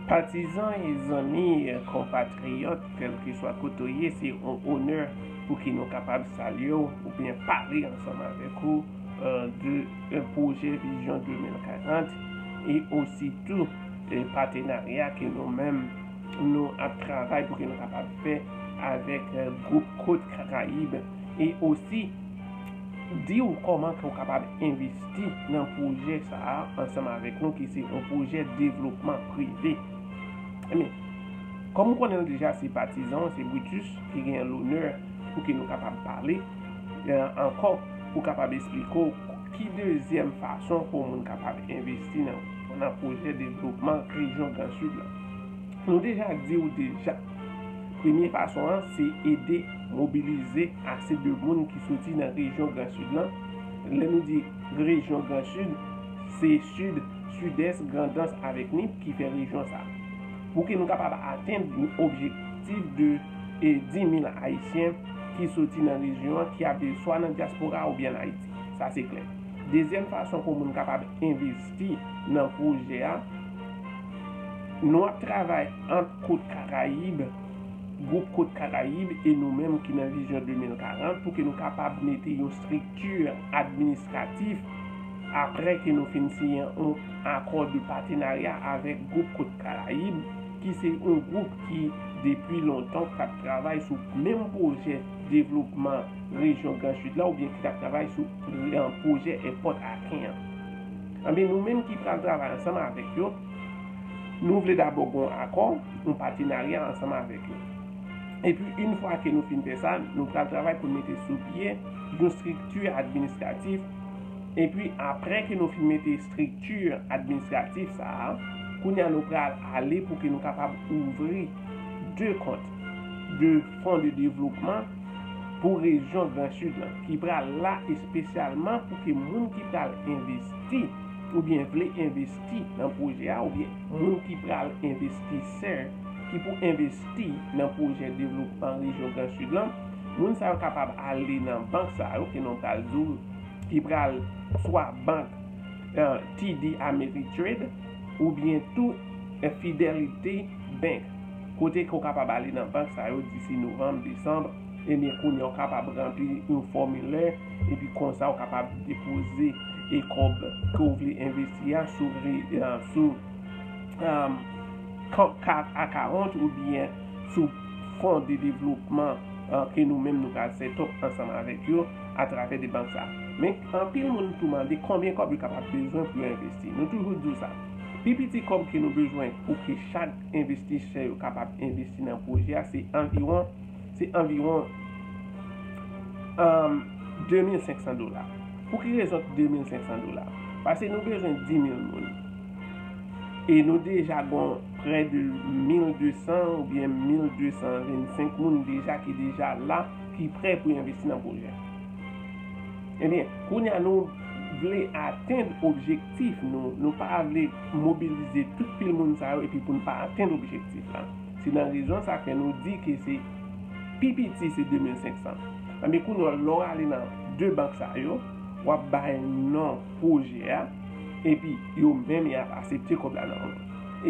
Patizan, zanmi, konpatriyòt, kèlkeswa kote w ye, se yon onè pou ki nou kapab salye w oubyen pale ansanm avèk ou de pwojè Vizyon 2040 e osi tou patenarya ke nou menm nou ap travay pou ke nou kapab fè avèk gwoup Côte Caraïbes e osi Di ou kòman ke ou kapab envesti nan pwojè sa a ansanm avèk nou ki se yon pwojè devlopman prive. Enben, kòm ou konnen l deja se patizan ou, se Brutus ki genyen lonè pou ke nou kapab pale ankò pou kapab esplike ou ki dezyèm fason ke yon moun kapab envesti nan pwojè devlopman rejyon Gran Sid la. Nou deja di ou deja premye fason an se ede. mobilize ase de moun ki soti nan rejyon Gran Sid lan. Lè nou di rejyon Gran Sid, se Sid, Sidès, Grandans avèk Nip ki fè rejyon sa. Pou ke nou kapab atenn objektif de 10.000 Ayisyen ki soti nan rejyon an ki ap viv swa nan dyaspora oubyen an Ayiti. Sa se klè. Dezyèm fason pou moun kapab envesti nan pwojè a, nou ap travay ant kot Karayib, Gwoup Kot Karayib e nou menm ki nan Vizyon 2040 pou ke nou kapab mete yon strikti administratif apre ke nou fin siyen yon akò de patenarya avèk Gwoup Kot Karayib ki se yon gwoup ki depi lontan ki tap travay sou menm pwojè devlopman rejyon Gran Sid la oubyen ki tap travay sou pwojè èpòt Aken an. Anben nou menm ki pral travay ansanm avèk yo. Nou vle dabò gen yon akò, yon patenarya ansanm avèk yo. Epi yn fwa ke nou fin fè sa, nou pral travay pou n mete sou pye yon strikti administratif, epi aprè ke nou fin mete strikti administratif sa a, kounye a nou pral ale pou ke nou kapab ouvri 2 kont, 2 fon de devlopman pou rejyon gran sid lan, ki pral la espesyalman pou ke moun ki pral envesti oubyen vle envesti. envesti nan pwojè a oubyen moun ki pral envestisè ki pou envesti nan pwojè devlopman rejyon Gran Sid lan, moun sa yo kapab ale nan bank sa yo ke nou pral di w ki pral swa bank TD Ameritrade oubyen tou Fidelity Bank kote ke w kapab ale nan bank sa yo disi novanm, desanm. Ebyen kounye a ou kapab ranpli yon fòmilè epi konsa ou kapab depoze e kòb ke ou vle envesti a sou sou kont 4 a 40 oubyen sou fon de devlopman ke nou menm nou pral sètop ansanm avèk yo atravè de bank sa. Men anpil moun tou mande konbyen kòb yo kapab bezwen pou yo envesti. Nou toujou di ou sa. Pi piti kòb ke nou bezwen pou ke chak envestisè yo kapab envesti nan pwojè a se anviwon Se anviwon 2500 dola. Pou ki rezon 2500 dola? Pase nou bezwen 10.000 moun. E nou deja gon prè de 1200 ou byen 1225 moun deja ki deja la, ki prè pou envesti nan pwojè. E byen, kounye a nou vle atenn objektif nou, nou pa vle mobilize tout pil moun sa yo epi pou nou pa atenn objektif la. Se nan rezon sa ke nou di ke se pi piti se 2500. Anben kounye a lè w ale nan 2 bank sa yo, w ap bay non pwojè a, epi yo menm y ap asepte kòb la nan men w.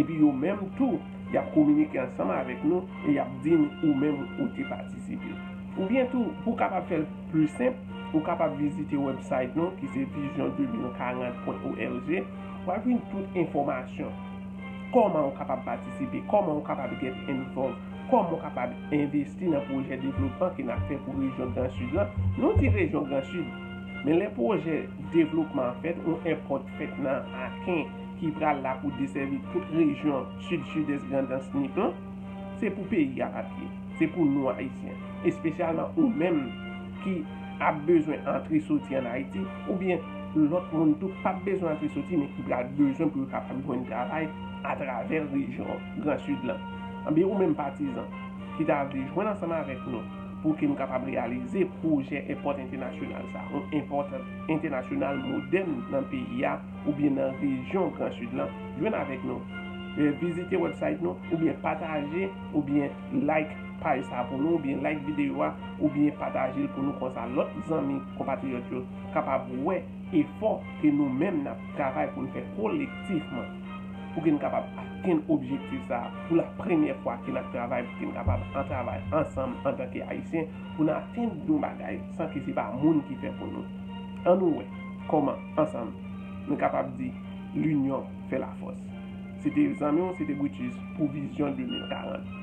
Epi yo menm tou, y ap kominike ansanm avèk nou e y ap di n ou menm ou te patisipe. Oubyen tou, pou w kapab fè l pli senp, ou kapab vizite wèbsayt nou ki se vision2040.org, w ap jwenn tout enfòmasyon. Kòman ou kapab patisipe? Kòman ou kapab get envòlv? Kòman ou kapab envesti nan pwojè devlopman ke n ap fè pou rejyon Gran Sid lan? Nou di rejyon Gran Sid, men lè pwojè devlopman an fèt, yon èpòt fèt nan Aken ki pral la pou desèvi tout rejyon Sid, Sidès, Grandans, Nip lan, se pou peyi a pa pye. Se pou nou Ayisyen. Espesyalman ou menm ki. ap bezwen antre soti an Ayiti oubyen lòt moun tou p ap bezwen antre soti men ki pral bezwen pou yo kapab jwenn travay atravè rejyon Gran Sid lan. Anben ou menm patizan ki ta vle jwenn ansanm avèk nou pou ke nou kapab reyalize pwojè èpòt entènasyonal sa, yon èpòt entènasyonal modèn nan peyi a oubyen nan rejyon Gran Sid lan, jwenn avèk nou, vizite wèbsayt nou oubyen pataje oubyen. Like paj sa pou nou oubyen like videyo a oubyen pataje l pou nou konsa lòt zanmi konpatriyòt yo kapab wè efò ke nou menm nap travay pou n fè kolektifman pou ke n kapab atenn objektif sa pou la premyè fwa ke nap travay pou ke n kapab an travay ansanm antanke ayisyen pou n atenn yon bagay san ke se pa moun ki fè pou nou an nou wè kòman ansanm nou kapab di linyon fè lafòs. Se te zanmi w se te Brutus pou vizyon 2040.